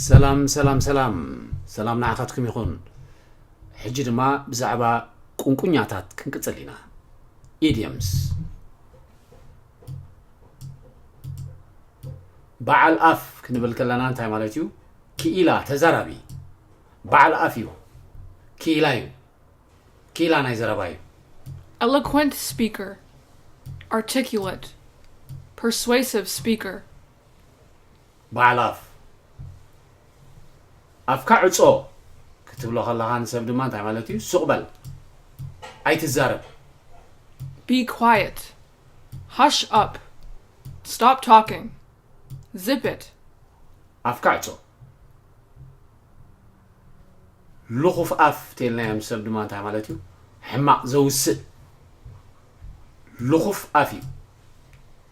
ሰላም ሰላም ሰላም ሰላም ንዓኻትኩም ይኹን ሕጂ ድማ ብዛዕባ ቁንቁኛታት ክንቅፅል ኢና ኢድየምስ በዓል ኣፍ ክንብል ከለና እንታይ ማለት እዩ ክኢላ ተዛራቢ በዓል ኣፍ እዩ ክኢላ እዩ ክኢላ ናይ ዘረባ እዩ eloquent speaker articulate persuasive speaker በዓል ኣፍ ኣፍካ ዕጾ ክትብሎ ከለካ ንሰብ ድማ እንታይ ማለት እዩ ሱቅ በል ኣይትዛረብ Be quiet. Hush up. Stop talking. Zip it. ኣፍካ ዕጾ ልኹፍ ኣፍ ተልናዮም ሰብ ድማ እንታይ ማለት እዩ ሕማቅ ዘውስእ ልኹፍ ኣፍ እዩ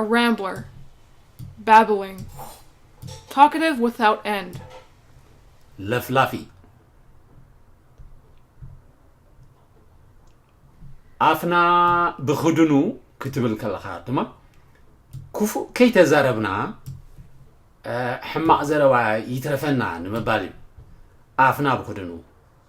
a rambler, babbling, talkative without end. ለፍላፊ ኣፍና ብክድኑ ክትብል ከለካ ድማ ክፉእ ከይተዛረብና ሕማቕ ዘረባ ይትረፈና ንምባል እዩ ኣፍና ብክድኑ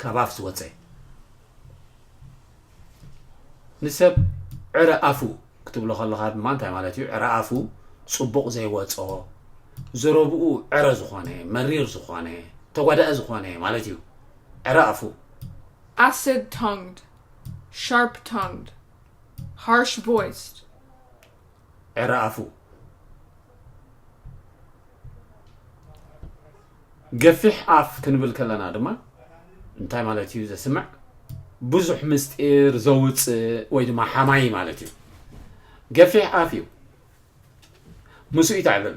ካብ ኣፍ ዝወጸ ንሰብ ዕረ ኣፉ ክትብሎ ከለኻ ድማ እንታይ ማለት እዩ ዕረ ኣፉ ጽቡቕ ዘይወጾ ዘረብኡ ዕረ ዝኾነ መሪር ዝኾነ ተጓዳኢ ዝኾነ ማለት እዩ ዕረ ኣፉ acid tongued sharp tongued harsh voiced ዕረ ኣፉ ገፊሕ ኣፍ ክንብል ከለና ድማ እንታይ ማለት እዩ ዘስምዕ ብዙሕ ምስጢር ዘውፅእ ወይ ድማ ሓማይ ማለት እዩ ገፊሕ ኣፍ እዩ ምስኡ ይትዕብብ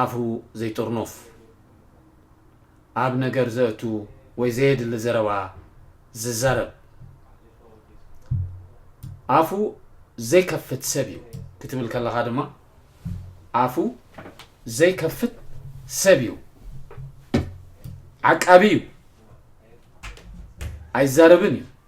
ኣፉ ዘይጥርኑፍ፣ ኣብ ነገር ዘእቱ ወይ ዘየድሊ ዘረባ ዝዛረብ፣ ኣፉ ዘይከፍት ሰብ እዩ። ክትብል ከለኻ ድማ ኣፉ ዘይከፍት ሰብ እዩ፣ ዓቃቢ እዩ፣ ኣይዛረብን እዩ።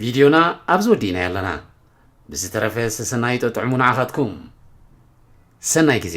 ቪድዮና ኣብዚ ወዲእናዮ ኣለና ብዝተረፈ ሰሰናዩ ጠጥዕሙ ንዓኻትኩም ሰናይ ግዜ